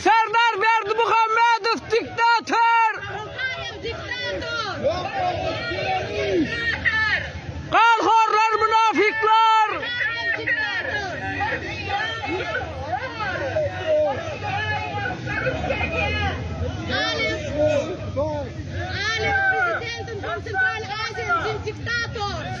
Serdar Berdimuhamedow diktator! Ganhorlar mynafyklar! Diktator!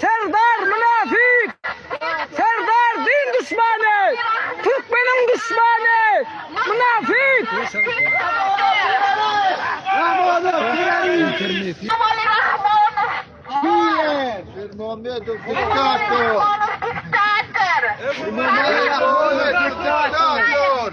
Serdar mynafik! Serdar din duşmany! Türkmeniň duşmany! Mynafik! Bermonow diktator!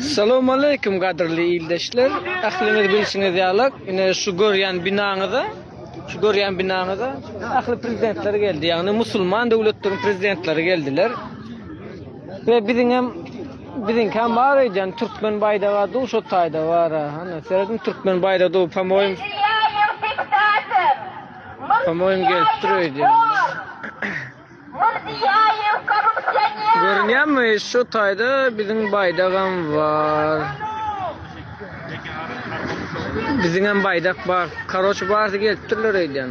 Salam aleyküm gadrli ildeşler. Ahliňiz bilşiňiz ýalak. Ine şu görýän binaňyza, şu görýän binaňyza ahli prezidentler geldi. Ýagny musulman döwletleriň prezidentleri geldiler. Ve biziň hem Biziňkam bar öýdýän türkmen baýdaga duş otaýda bara. Hany seredin türkmen baýdagy dup hem oýum. Hem oýum gelip dur öýdýän. Görünýärmi şu taýda biziň baýdagam bar. Biziňem baýdak bar. Karoç barsa gelip durlar öýdýän.